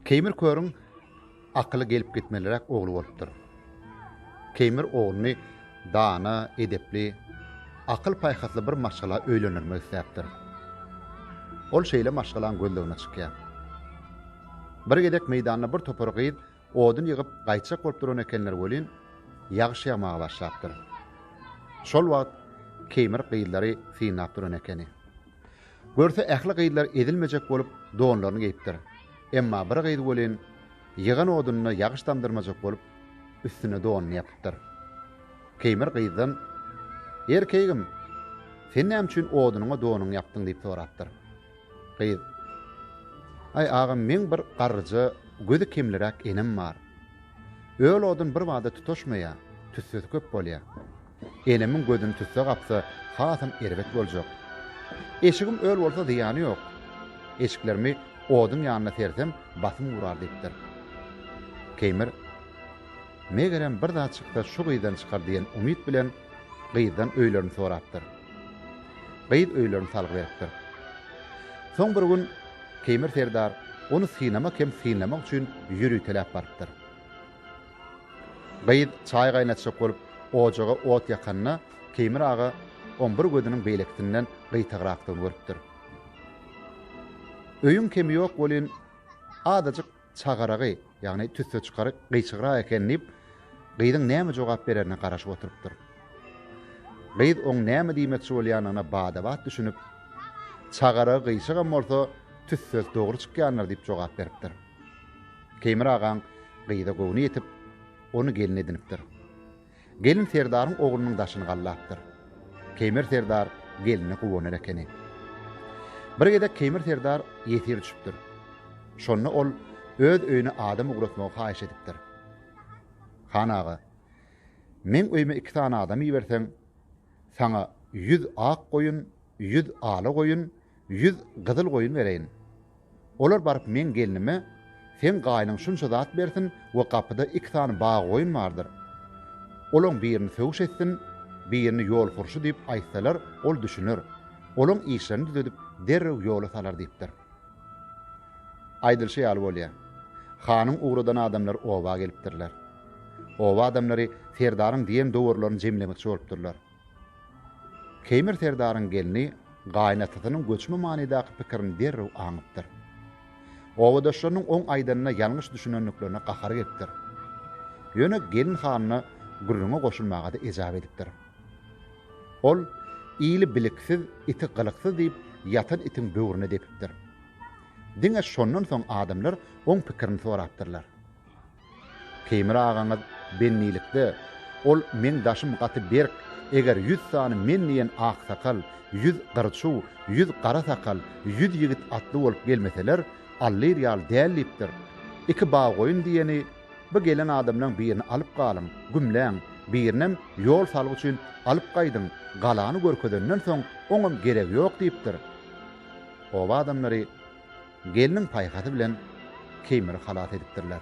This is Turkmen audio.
Keýmir körüň akyly gelip gitmeliräk ogly bolupdyr. Keýmir ogluny dana, edepli, akyl-paýhasly bir maşgala öýlendirmek isläpdir. Ol şeýle maşgalaň gözlegine çykýar. Bir gezek meýdanda bir topar gyz odun ýygyp gaýtjak bolup duran ekenler welin, ýagyş ýagmaga başlapdyr. Şol wagt Keýmir gyzlary synlap duran ekeni. Görse ähli gyzlar ezilmejek bolup donlaryny geýipdir. Emma bir gyz welin ýygan odununa ýagyş damdyrmajak bolup üstüne donuny ýapypdyr. Keýmir gyzdan, Erkegim, sen näme üçin odunyňa donuňy ýapdyň diýip sorapdyr. Gyz, Aý agam meň bir garryja gözi kemliräk enem bar. Öl odun bir bada tutaşmaýa, tüssesi köp bolýa. Enemiň gözüni tüsse gapsa, hasam erbet boljak. Eşigim öl bolsa zyýany ýok. Eşiklerimi oduň ýanyna sersem, basym urar diýipdir. Keýmir, Megerem bir zat çyksa şu gyzdan çykar diýen umyt bilen gyzdan öýlerini sorapdyr. Gyz öýlerini salgy beripdir. Soň bir gün Keýmir serdar ony synamak hem synlamak üçin ýöriteläp barypdyr. Gyz çaý gaýnatjak bolup ojaga ot ýakanda, Keýmir aga oň bir gözüniň beýlekisinden gyýtagrakdygyny görüpdir. Öýüň kemi ýok welin, azajyk çagaragy, ýagny tüsse çykary gyýçygrak eken diýip, gyzyň näme jogap bererine garaşyp oturypdyr. Gyz oň näme diýmekçi bolýanyna bada-bat düşünip, Çagaragy gyýçygam bolsa, tüssesi dogry çykýandyr diýip jogap beripdir. Teýmir agaň gyza göwni ýetip, ony gelin edinipdir. Gelin serdaryň oglunyň daşyny gallapdyr. Keýmir serdar geline guwanar ekeni. Bir gezek Keýmir serdar ýesir düşüpdir. Şonda ol öz öýüne adam ugratmagy haýyş edipdir. Han aga, meň öýüme iki sany adam iberseň, saňa ýüz ak goýun, ýüz ala goýun, Ýüz gyzyl goýun bereýin. Olar baryp meň gelnime, Seň gaýynyň şunça zat bersin we gapyda iki sany bag goýun bardyr. Olaň birini sögüş etsin, birini ýol hurşy diýip aýtsalar, ol düşüner. Olaň işlerini düzedip, derrew ýola salar diýipdir. Aýdylyşy ýaly bolýar. Hanyň ugradan adamlary oba gelipdirler. Oba adamlary serdaryň diýen dowurlaryny jemlemekçi bolupdyrlar. Keýmir serdaryň gelni gaýynatasynyň göçme manydaky pikirini derrew aňypdyr. Obadaşlarynyň oň aýdanyna ýalňyş düşünendiklerine gahary gelipdir. Ýöne gelin hanyna gürrüňe goşulmaga-da ejap edipdir. Ol, Ili biliksiz, iti gylyksyz diýip, ýatan itiň böwrüne depipdir. Diňe şondan soň adamlar oň pikirini sorapdyrlar. Teýmir agaňyz bennilikde, Ol meň daşym gaty berk, eger ýüz sany men diýen aksakal, ýüz gyrçuw, ýüz gara sakal, ýüz ýigit atly bolup gelmeseler, allyr ýaly däl diýipdir. Iki bag-goýun diýeni, Bu gelen adamlaň birini alyp galyň, gümläň, birinem ýol salgy üçin alyp gaýdyň, galany görkezenden soň oňam geregi ýok diýipdir. Oba adamlary. gelniň paýhasy bilen Keýmiri halas edipdirler.